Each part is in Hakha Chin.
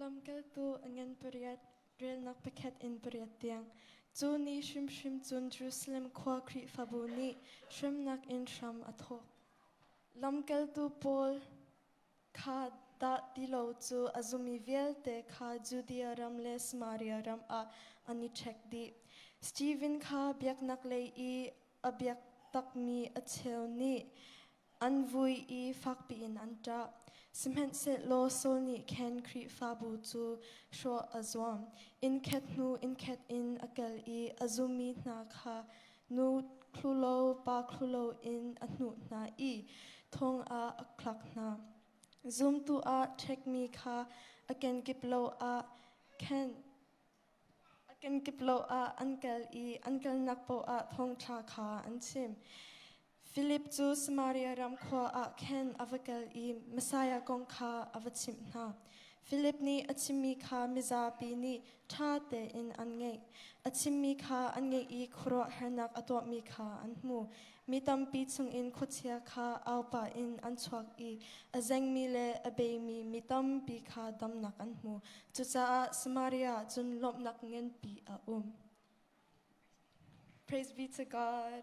Lamkaltu a ngan pariat, relnak pakhat in pariat tiang. Cu ni hrimhrim cun Jerusalem khua Khrihfabu nih hremnak in hram a thawk. Lamkaltu Paul kha dah ti lo cu a zumi vialte kha Judea ram le Samaria ram ah an i ṭhek dih. Steven kha biaknak lei i a biak takmi a cheu nih An vui i fak piin an ṭah, sihmanhsehlaw Saul nih khan Khrihfabu cu hrawh a zuam. Innkhat hnu innkhat in a kal i a zummi hna kha nu thlulo pa thlulo in a hnuh hna i thong ah a khlak hna. Zumtu ah ṭhekmi kha a kenkip lo ah khenh A kenkip lawh ah an kal i an kalnak poah thawngṭha kha an chim. Filip cu Samaria ram khua ah khan a va kal i Messiah kong kha a va chimh hna. Filip nih a chimmi kha mizapi nih ṭha tein an ngaih. A chimmi kha an ngaih i khuaruahharnak a tuahmi kha an hmu. Mi tampi chungin khuachia kha aupa in an chuak i a zengmi le a beimi mi tampi kha damnak an hmu. Cucaah Samaria ah cun lawmhnak nganpi a um. Praise be to God.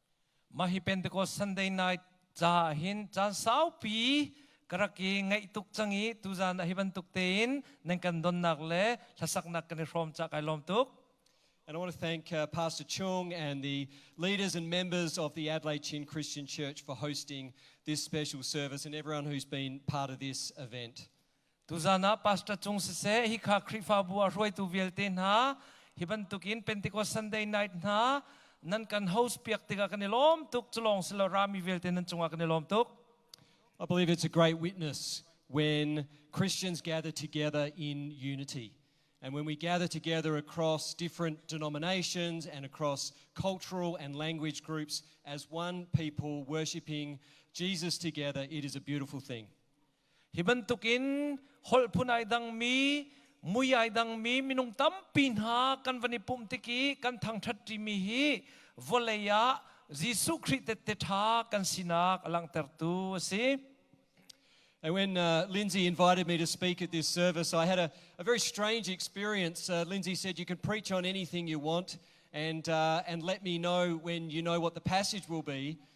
Mah hi Pentecost Sunday night ca ah hin caan saupi ka rak i ngaih tuk cang i tuzaan ah hi bantuk tein nan kan donnak le hlasaknak kan i hrawm cah kai lawm tuk. And I want to thank uh, Pastor Chung and the leaders and members of the Adelaide Chin Christian Church for hosting this special service and everyone who's been part of this event. Tuzan ah pastor cung siseh hikha Khrihfabu ah hruaitu vialte hna hi bantukin Pentecost Sunday night hna nan kan host piak tikah kan i lawm tuk culawng silo rami vialte nan cungah kan i lawm tuk I believe it's a great witness when Christians gather together in unity. And when we gather together across different denominations and across cultural and language groups as one people worshipping Jesus together, it is a beautiful thing. Hi bantukin holh phun ai dangmi, mui ai dangmi minung tampi hna kan van i pumh tik i kan thangṭhat ṭimi hi vawlei ah Jesuh Khrih tette ṭha kan sinak a langhtertu a si. And when uh, Lindsay invited me to speak at this service, I had a, a very strange experience. Uh, Lindsay said, You can preach on anything you want and, uh, and let me know when you know what the passage will be.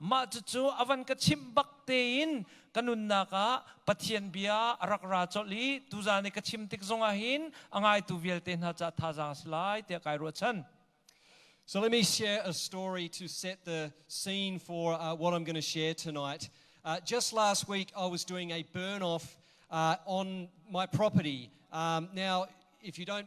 Mah cucu a van ka chimh bak tein ka nunnak ah Pathian bia a rak ra colh i tuzaan i ka chim tik zongah hin a ngaitu vialte hna caah thazaang a si lai tiah kai ruahchan. So let me share a story to set the scene for uh, what I'm going to share tonight. Uh, just last week, I was doing a burn off uh, on my property. Um, now, if you don't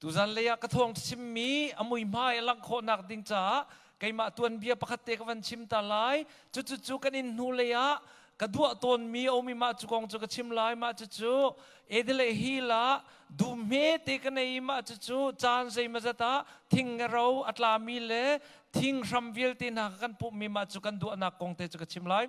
Tuzan lei ah ka thawng chimmi a muihmai a langh khawhnak ding caah keimah tuanbia pakhat te ka van chim ta lai. Cucucu kan inn hnulei ah ka duah tawnmi a um i mah cu kong cu ka chim lai. Mah cucu Adelaide Hill ah dum hmete ka nei i mah cucu caan zeimazat ah thingaro a tlami le thing hram vialte hna kha kan pumhmi mah cu kan duahnak kong te cu ka chim lai.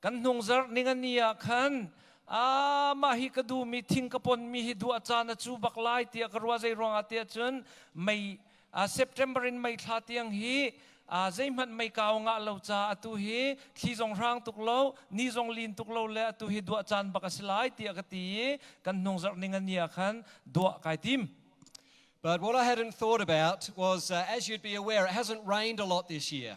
kan hnungzarh ningani ah khan ah mah hi ka duhmi thing ka ponmi hi duah caan a cu bak lai tiah ka ruah zei ruangah tiah cun mei ah September in mei thla tiang hi aa zeihmanh mei kau ngah lo ca atu hi thli zong hrang tuk lo ni zong lin tuk lo le atu hi duah caan bak a si lai tiah ka ti i kan hnungzarh ning ani ah khan duah kai tim But what I hadn't thought about was, uh, as you'd be aware, it hasn't rained a lot this year.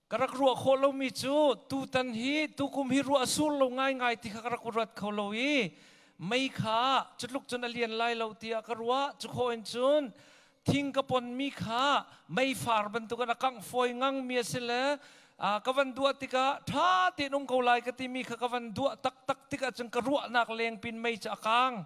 ka rak ruah khawh lomi cu tutan hi tukum hi ruah a sur lo ngaingai ti kha ka rak ruat kho lo i mei kha cutluk cun a lian lai lo tiah ka ruah cukhaw in cun thing ka ponmi kha meifar bantukin a kangh fawi ngangmi a si le uh, ka van duah tikah ṭha tein um ko lai ka timi kha ka van duah taktak tikah cun ka ruahnak lengpin mei cu a kang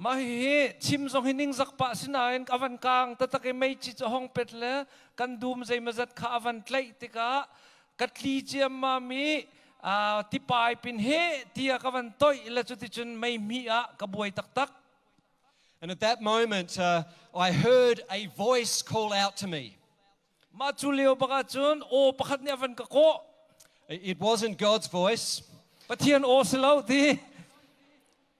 Mah hihi chim zong hi ningzak pah si nain a van kaang taktak i meici cu hong pet le kan dum zeimazat kha a van tlaih tikah ka tli ciammam i tipai pin he tiah ka van toih le cuticun meihmih ah ka buai taktak. And at that moment, uh, I heard a voice call out to me. Mah cu leo bak ahcun aw pakhat nih a van ka kawh. It wasn't God's voice. Pathian aw si lo ti.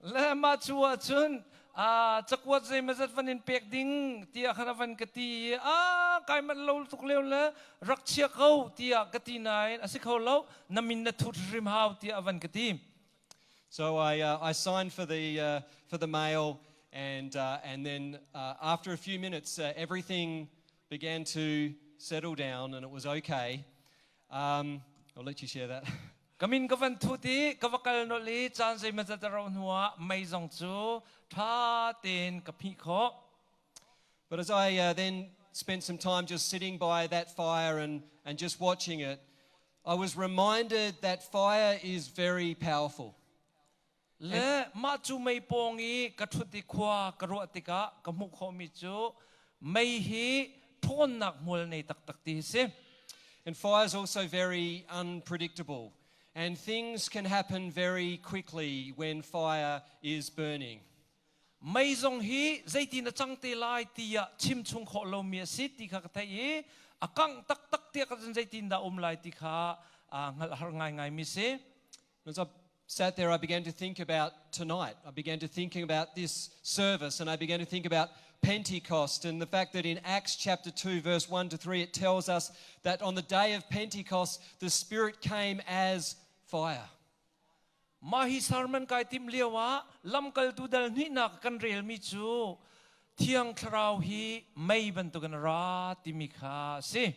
le mah cu ah cun cakuat zeimazat van in pek ding tiah har van ka ti i a kai mat lo tuk leu le rak chia ko tiah ka ti nain a si kho lo na min na thut rim hau tiah van ka ti So I uh, I signed for the uh, for the mail and uh, and then uh, after a few minutes uh, everything began to settle down and it was okay Um, I would like to share that. Kamin ka van thut i ka va kal nol i caan zeimah zat ro hnuah mei zong cu tha tein ka phih khawh. But as I uh, then spent some time just sitting by that fire and, and just watching it, I was reminded that fire is very powerful. Le mah cu mei pawng i ka ṭhut i khua ka ruah tikah ka hmuh khawhmi cu mei hi ṭhawnnak hmual nei taktak ti a si. And fall is also very unpredictable. And things can happen very quickly when fire is burning. Mei zong hi zeitin a cang te lai tiah chimchung khawh lomi a si ti kha ka theih i a kangh taktak tiah ka zeitin dah um lai ti kha hngalh har ngaingaimi si. As I sat there, I began to think about tonight. I began to thinking about this service and I began to think about Pentecost and the fact that in Acts chapter 2, verse 1 to 3, it tells us that on the day of Pentecost, the Spirit came as fire. Mahi sermon kai tim lio ah lamkal tu dal hnuihnak kan relmi cu Thiang Thlarau hi mei bantukin ra timi kha a si.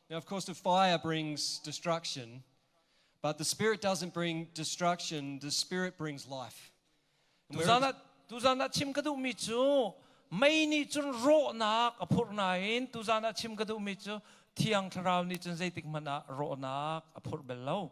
Now, of course, the fire brings destruction, but the spirit doesn't bring destruction, the spirit brings life. tuzan ah tuzan ah chim ka duhmi cu mei nih cun rawhnak a phurh nain tuzan ah chim ka duhmi cu thiang thlarau nih cun zeitik hmanh ah rawhnak a phurh bel lo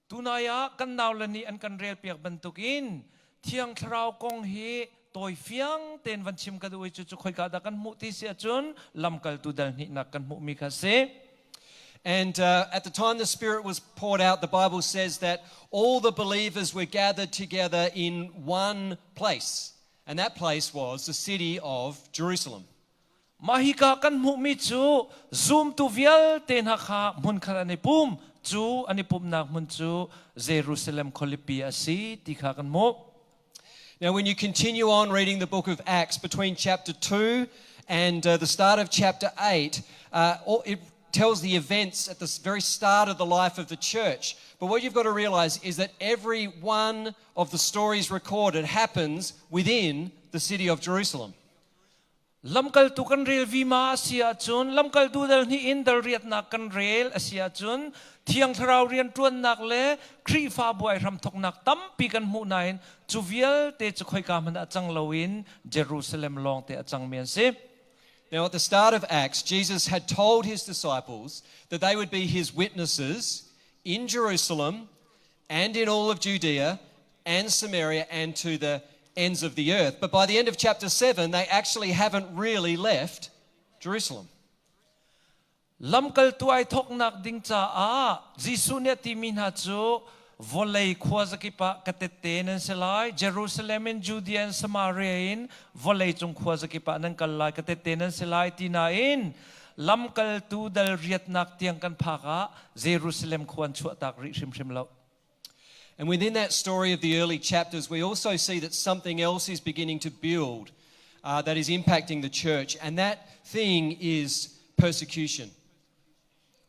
Tunai ah kan naule nih an kan relpiak bantukin Thiang Thlarau kong hi tawi fiang tein van chim ka duh i cucu khoika dah kan hmuh ti si ahcun lamkaltu dal hnihnak kan hmuhmi kha a si. And uh, at the time the Spirit was poured out, the Bible says that all the believers were gathered together in one place, and that place was the city of Jerusalem. Mah hika kan hmuhmi cu zumtu vialte hna kha hmunkhat an i pum, cu an i pumhnak hmun cu Jerusalem khualipi a si ti kha kan hmuh. Now, when you continue on reading the book of Acts between chapter 2 and uh, the start of chapter 8, uh, it tells the events at the very start of the life of the church. But what you've got to realize is that every one of the stories recorded happens within the city of Jerusalem. Lamkaltu kan rel vima a si ahcun lamkaltu dal hnih in dal riatnak kan rel a si ahcun thiang thlarau rianṭuannak le Khrihfabu ai hramthawknak tampi kan hmuh nain cu vialte cu khoika hmanh ah cang loin Jerusalem lawngte a cangmi an si. Now, at the start of Acts, Jesus had told his disciples that they would be his witnesses in Jerusalem and in all of Judea and Samaria and to the ends of the earth. But by the end of chapter 7, they actually haven't really left Jerusalem. Lamkaltu ai thoknak ding caah Jesuh nih ti mi hna cu vawlei khua zakip ah ka tette nan se lai Jerusalem in Judea and Samaria in vawlei cung khua zakip ah nan kal lai ka tette nan se lai ti nain lamkaltu dal riatnak tiang kan phak ah Jerusalem khua an chuahtak rih hrimhrim lo. And within that story of the early chapters, we also see that something else is beginning to build uh, that is impacting the church, and that thing is persecution.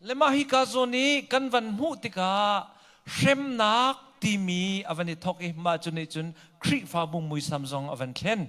Le mah hi ka zon i kan van hmuh tikah hremnak timi avan i thok i mah cu nih cun Khrihfabu muisam zong avan thlen.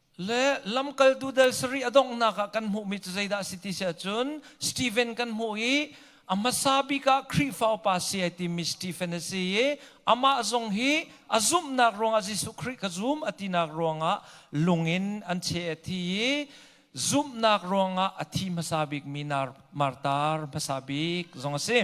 Le lamkaltu del sarih a donghnak ah kan hmuhmi cu zeidah a si ti si ahcun Stephen kan hmuh i a hmasa bik ah Khrihfa upa si ai timi Stephen a si i amah zong hi a zumhnak ruangah Jesuh Khrih ka zum a tinak ruangah lung in an cheh a thi i zumhnak ruangah a thi hmasa bikmi Martar hmasa bik zong a si.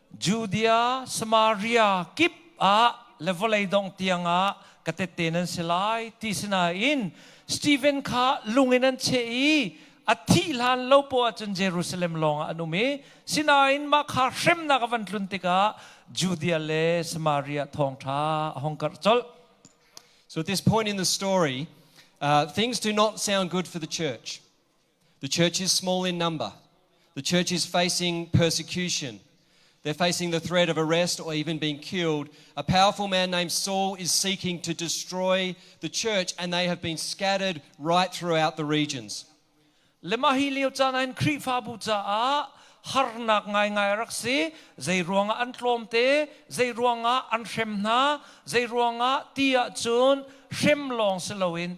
Judea, Samaria kip ah le vawlei dong tiangah ka tette nan si lai ti sinain Stephen kha lung in an cheh i a thih hlan lo poah ahcun Jerusalem lawngah an um i sinain mah kha hremnak a van tlun tikah Judea le Samaria thawngṭha a hong karh colh. So at this point in the story, uh, things do not sound good for the church. The church is small in number. The church is facing persecution. They're facing the threat of arrest or even being killed. A powerful man named Saul is seeking to destroy the church, and they have been scattered right throughout the regions. Le mah hi lio caan ah in Khrihfabu caah harnak ngaingai rak si zei ruangah an tlawm te zei ruangah an hrem hna zei ruangah ti ahcun hrem lawng si loin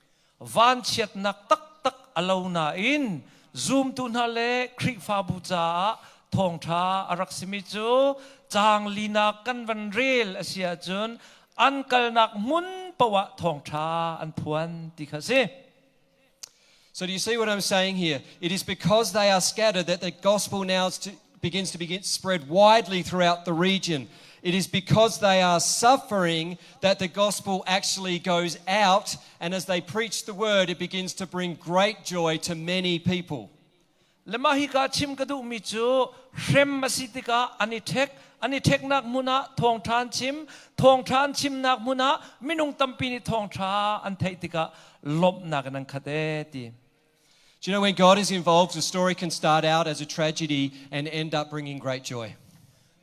vanchiatnak taktak a lo nain zumtu hna le Khrihfabu caah thawngṭha a rak simi cu caang linak kan van rel a si ahcun an kalnak hmun poah thawngṭha an phuan ti kha a si. So do you see what I'm saying here? It is because they are scattered that the gospel now to, begins to begin spread widely throughout the region. It is because they are suffering that the gospel actually goes out, and as they preach the word, it begins to bring great joy to many people. Lema hi ka chim ka duhmi cu hrem asi tikah an i thek an i theknak hmun ah thawngthan chim thawngthan chimnak hmun ah minung tampi nih thawngtha an theih tikah lawmhnak in an khat e ti Do you know when God is involved, a story can start out as a tragedy and end up bringing great joy.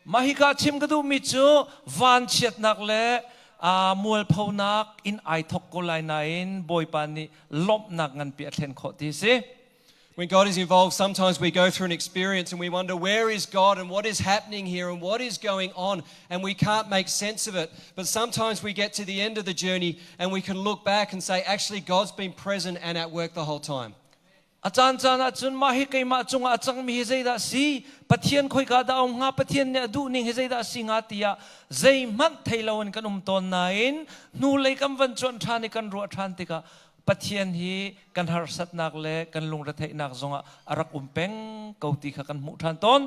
Mahika chim ka duhmi cu vanchiatnak le uh, mualphonak in ai thok ko lai nain Bawipa nih lawmhnak nganpi a thlen khawh ti si. When God is involved, sometimes we go through an experience and we wonder where is God and what is happening here and what is going on. and we can't make sense of it. But sometimes we get to the end of the journey and we can look back and say, actually, God's been present and at work the whole time. A caan caan ah cun mah hi keimah cungah a cangmi hi zeidah si Pathian khoi ka da ong nga Pathian nih a duh ning hi zeidah si nga tiah zeihmanh thei lo in kan um tawn nain hnu lei kan van chuan ṭhan i kan ruah ṭhan tikah Pathian hi kan harsatnak le kan lungretheihnak zongah a rak um peng ko ti kha kan hmuh ṭhan tawn.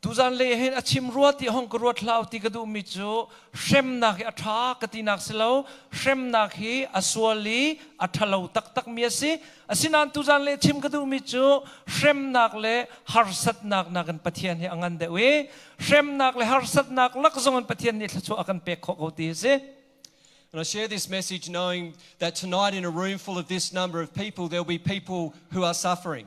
Tuzan lei hin a chim rua ti hong ka ruat hlah ti ka duhmi cu hremnak hi a ṭha ka tinak si lo, hremnak hi a sual i a ṭhalo taktakmi a si. Asinain tuzan lei chim ka duhmi cu hremnak le harsatnak nakin Pathian hi a ngan deuh i hremnak le harsatnak lak zongin Pathian nih thluachuah a kan pek khawh ko ti a si. And I share this message knowing that tonight in a room full of this number of people, there'll be people who are suffering.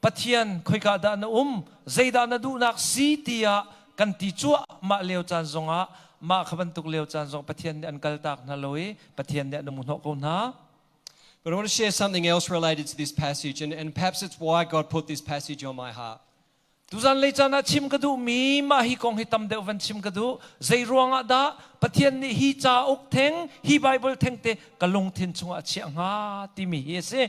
Pathian, khoika dah na um, zeidah na duhnak si tiah kan ti cuahmah lio caan zongah mah kha bantuk lio caan zong Pathian nih an kaltak hna lo i Pathian nih an um hnawh ko hna. But I want to share something else related to this passage, and, and perhaps it's why God put this passage on my heart. Tuzan lei caan ah chim ka duhmi mah hi kong hi tam deuh van chim ka duh. Zei ruangah dah Pathian nih hi cauk theng, hi Bible theng te ka lungthin chungah a chiah hnga timi hi a si.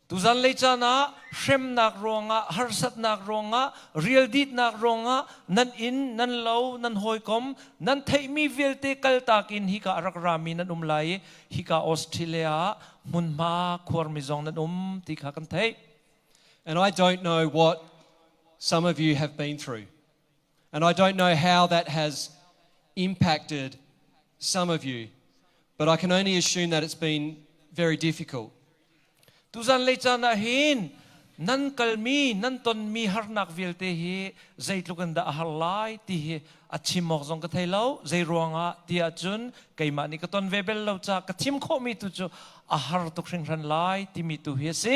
Tuzan lei caan ah hremnak ruangah, harsatnak ruangah, rialditnak ruangah nan inn, nan lo, nan hawikom, nan theihmi vialte kaltak in hika a rak rami nan um lai i hika Australia ah hmunhma khuarmi zong nan um ti kha kan theih. And I don't know what some of you have been through. And I don't know how that has impacted some of you, but I can only assume that it's been very difficult. Tuzan le caan ah hin nan kalmi nan tonmi harnak vialte hi zeitluk in dah a har lai ti hi a chim awk zong ka thei lo zei ruangah tiah cun keimah nih ka ton ve bel lo ca ka thim khawhmi tu cu a har tuk hringhran lai timi tu hi a si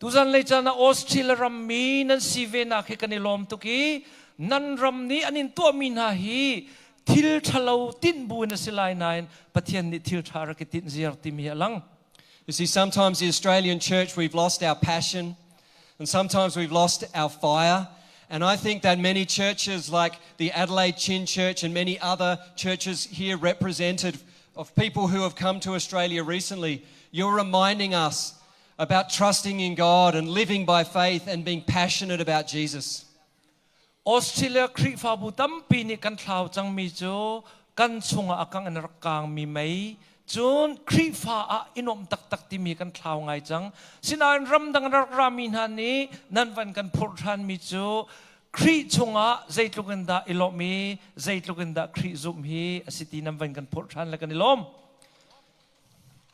Tuzan lei caan ah Australia rammi nan si venak hi kan i lawm tuk i nan ram nih an in tuahmi hna hi thil ṭhalo tinh bu in a si lai nain Pathian nih thil ṭha rak i tinh ziar timi hi a lang. You see, sometimes the Australian church, we've lost our passion and sometimes we've lost our fire. And I think that many churches like the Adelaide Chin Church and many other churches here represented of people who have come to Australia recently, you're reminding us about trusting in God and living by faith and being passionate about Jesus. Australia Khrihfabu tampi nih kan thlau cangmi cu kan chungah a kang in rak kangmi mei cun Khrihfa ah inuamh taktak timi kan thlau ngai cang. Sinain ramdang rak rami hna nih nan van kan phurh ṭhanmi cu Khrih chungah zeitluk in dah i lawm i zeitluk in dah Khrih zumh hi a si ti nan van kan phurh ṭhan le kan i lawm.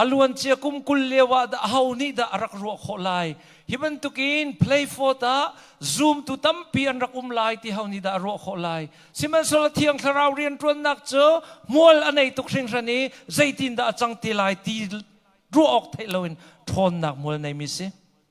A luancia kum kul lioah dah aho nih dah a rak ruah khawh lai? Hi bantukin Playfort ah zumtu tampi an rak um lai ti ho nih dah a ruah khawh lai? Sihmanhsehlaw thiang thlarau rianṭuannak cu hmual a nei tuk hringhran i zeitindah a cang te lai ti ruah awk theih loin ṭhawnnak hmual neimi si.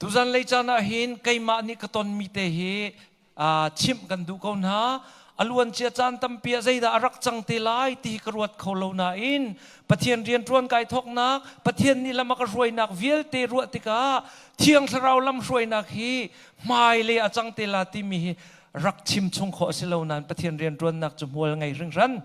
Tuzan lei caan ah hin keimah nih ka tonmi te hi chimh kan duh ko hna. A luancia caan tampi ah zeidah a rak cang te lai ti hi ka ruat kho lo nain Pathian rianṭuan kai thawknak, Pathian nih lam a ka hruainak vialte ruah tikah Thiang Thlarau lamhruainak hi hmailei a cang te la timi hi rak chim chung khawh a si lo nain Pathian rianṭuannak cu hmual ngei hringhran.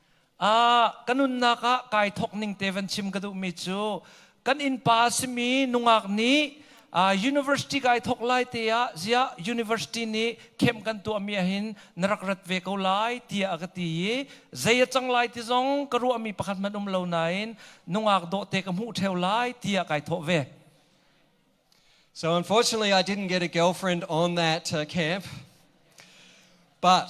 ka nunnak ah kai thawk ning te van chim ka duhmi cu kan innpa a simi nungak nih university kai thawk lai te ah ziah university nih khem kan tuahmi ahin na rak rat ve ko lai tiah a ka ti i zei a cang lai ti zong ka ruahmi pakhat hmanh um lo nain nungak dawhte ka hmuh theo lai tiah kai thawh ve So unfortunately, I didn't get a girlfriend on that uh, camp. But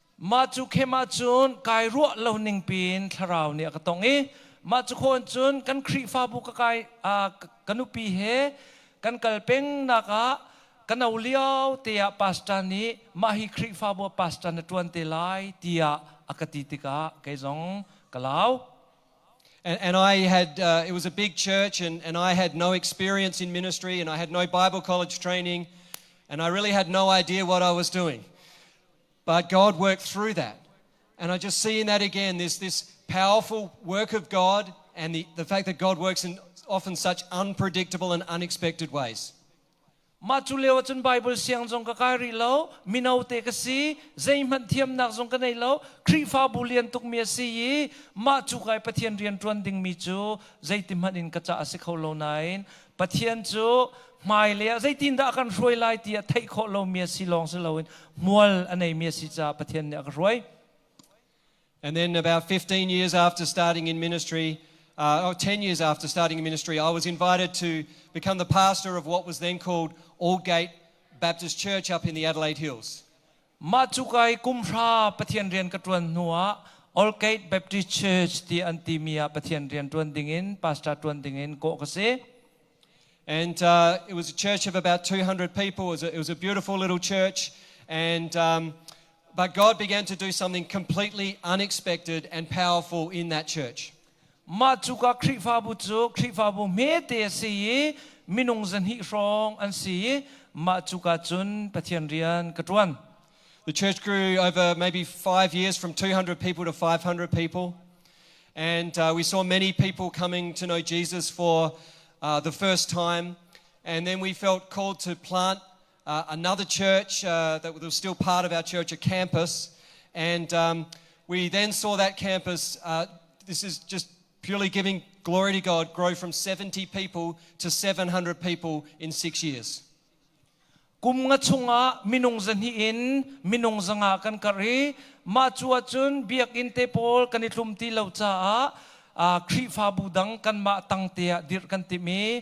Mah cu khem ahcun kai ruah lo ning piin thlarau nih a ka tong i mah cu khawn cun kan Khrihfabu ka kai ka nupi he kan kal pengnak ah ka no lio te ah pastor nih mah hi Khrihfabu ah pastor na ṭuan te lai tiah a ka ti tikah kei zong ka lau. And, and I had, uh, it was a big church, and, and I had no experience in ministry, and I had no Bible college training, and I really had no idea what I was doing. But God worked through that. And I just see in that again this, this powerful work of God and the, the fact that God works in often such unpredictable and unexpected ways. Mah cu leo cun Bible siang zong ka kai rih lo. Mino te ka si. Zeihmanh thiamnak zong ka nei lo. Khrihfabu lian tuk mi a si i mah cu kai Pathian rian ṭuan ding mi cu zeiti hmanh in ka ca a si kho lo nain Pathian cu hmailei ah zeitindah a kan hruai lai ti a theih khawh lomi a si lawng si loin hmual a neimi a si caah Pathian nih a ka hruai. And then about 15 years after starting in ministry, uh, oh, 10 years after starting in ministry, I was invited to become the pastor of what was then called Aldgate Baptist Church up in the Adelaide Hills. Mah cukai kumhra Pathian rian ka ṭuan hnuah Oldgate Baptist Church ti an timi ah Pathian rian ṭuan dingin pastor ṭuan dingin kawh ka si. And uh, it was a church of about 200 people. It was a, it was a beautiful little church. And um, but God began to do something completely unexpected and powerful in that church. Mah cuka Khrihfabu cu Khrihfabu hmete a si i minung zahnih hrawng an si i mah cuka cun Pathian rian ka ṭuan. The church grew over maybe five years from 200 people to 500 people. And uh, we saw many people coming to know Jesus for uh, the first time. And then we felt called to plant uh, another church uh, that was still part of our church, a campus. And um, we then saw that campus, uh, this is just purely giving glory to God, grow from 70 people to 700 people in six years. Kum nga chunga minung zahni in minung zanga kan kar i ma chu ahcun biakinn te pawl kan i tlum ti lo caah uh, Khrihfabu dang kan mah tang te ah dirh kan timi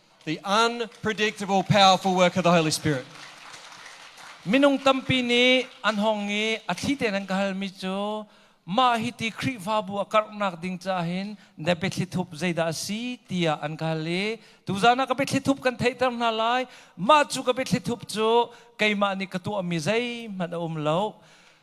The unpredictable, powerful work of the Holy Spirit. Minung tampi nih an hong i a thli tein an ka halmi cu mah hi ti Khrihfabu a karhnak ding caah hin na biathlithup zeidah a si tiah an ka hal i tuzaan ah ka biathlithup kan theihter hna lai mah cu ka biathlithup cu keimah nih ka tuahmi zeihmanh a um lo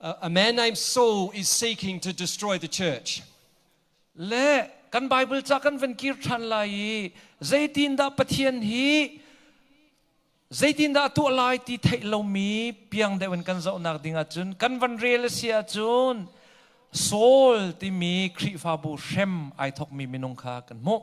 a man named Saul is seeking to destroy the church. Le kan Bible ca kan van kir ṭhan lai i zeitindah Pathian hi zeitindah a tuah lai ti theih lomi piang deuh in kan zohnak ding ahcun kan van rel a si ahcun Saul timi Khrihfabu hrem ai thokmi minung kha kan hmuh.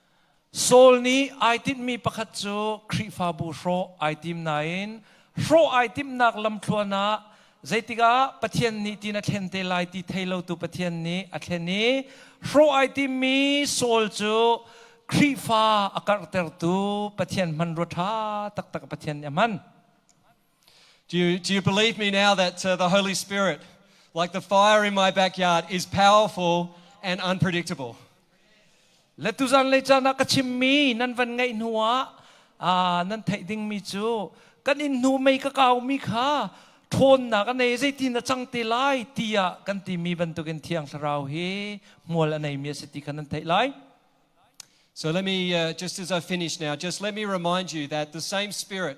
Saul nih ai timhmi pakhat cu Khrihfabu hrawh ai tim nain hrawh ai timhnak lamthluan ah zeitikah Pathian nih tin a thlen te lai ti thei lotu Pathian nih a thlen i hrawh ai timmi Saul cu Khrihfa a karhtertu Pathian hmanrua ṭha taktak Pathian nih a hman. Do you, do you believe me now that uh, the Holy Spirit, like the fire in my backyard, is powerful and unpredictable? Letuzan le chan ah ka chimmi nan van ngaih hnu ah ah, nan theih dingmi cu kan in hnu mei ka kaumi kha ṭhawnnak a nei zeitin a cang te lai tiah kan timi bantukin thiang thlarau hi hmual a neimi a si ti kha nan theih lai. So let me, uh, just as I finish now, just let me remind you that the same Spirit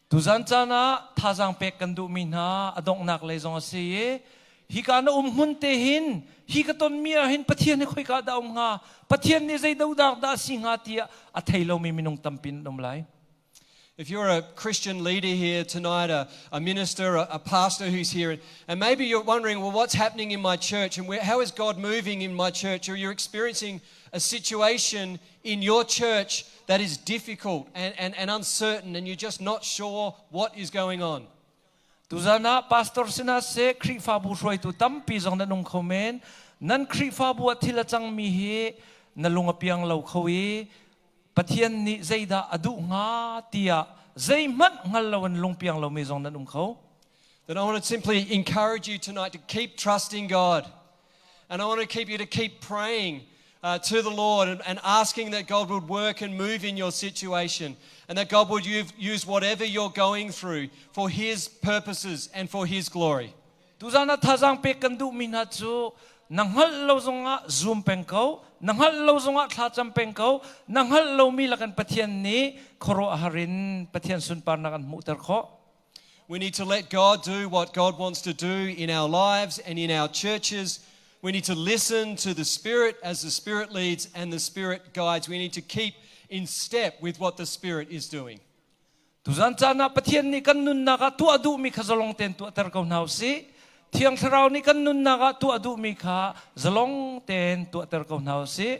Tuzan caan ah thazaang pek kan duhmi hna a donghnak lei zong a si i hika na um hmun te hin hi ka tonmi ah hin Pathian hi khoika ah dah a um hnga, Pathian nih zei dohdak dah a si hnga tiah a thei lomi minung tampi an um lai. If you're a Christian leader here tonight, a, a minister, a, a pastor who's here, and maybe you're wondering, well, what's happening in my church and where, how is God moving in my church? Or you're experiencing a situation in your church that is difficult and, and, and uncertain and you're just not sure what is going on. Tuzan ah pastor sina se Khrihfabu hruaitu tampi zong na nung kho men. Nan Khrihfabu a thil a cangmi hi na lung a piang lo kho i Pathian nih zeidah a duh hnga tiah zeihmanh hngal lo in lung piang lomi zong nan um kho. Then I want to simply encourage you tonight to keep trusting God. And I want to keep you to keep praying uh, to the Lord and, and asking that God would work and move in your situation and that God would use whatever you're going through for His purposes and for His glory. Tuzana thazang pe kan du mi na chu na ngal lo zonga zoom peng ko na ngal lo zonga thlacham peng ko na ngal lo mi la kan pathian ni khoro harin pathian sunpar na kan mu ter kho We need to let God do what God wants to do in our lives and in our churches. We need to listen to the Spirit as the Spirit leads and the Spirit guides. We need to keep in step with what the Spirit is doing. Tuzan cana pathian ni kan nunnak ah tu adu mi kha zalong ten tu atar ko hna si thiang thlarau ni kan nunnak ah tu adu mi kha zalong ten tu atar ko hna si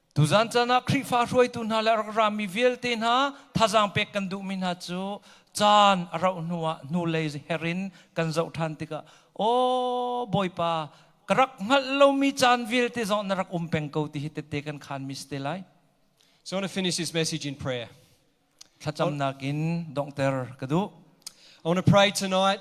Tuzan caan ah Khrihfa hruaitu hna le rak rami vialte hna thazaang pek kan duhmi hna cu caan a rauh hnu ah hnulei her in kan zoh ṭhan tikah aw Bawipa ka rak hngalh lomi caan vialte zong na rak um peng ko ti hi tette kan khanmi si te lai. So I want to finish this message in prayer. thlacamnak in donghter ka duh. I want to pray tonight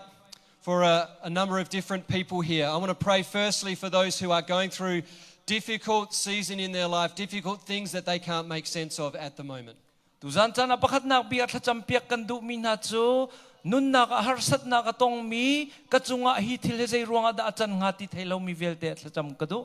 for a, a number of different people here. I want to pray firstly for those who are going through difficult season in their life, difficult things that they can't make sense of at the moment. Tuzan chan a pakhatnak bia thlacam piak kan duh mi hna cu nunnak a harsatnak a tongmi ka cungah hi thil hi zei ruangah dah a can hnga ti thei lo mi vialte thlacam ka duh.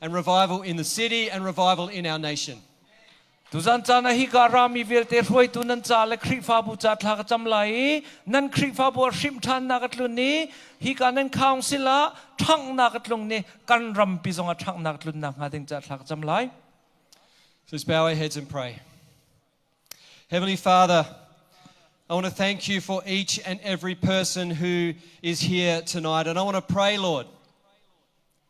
and revival in the city and revival in our nation. Tuzan caan ah hika rami vialte hruaitu nan ca le Khrihfabu ca thla ka cam lai i nan Khrihfabu a hrim ṭhannak a tlun i hika nan council ah ṭhanghnak a tlung ni kan rampi zong ah ṭhanghnak a tlun nakhnga ding ca thla ka cam lai. So let's bow our heads and pray. Heavenly Father, I want to thank you for each and every person who is here tonight. And I want to pray, Lord,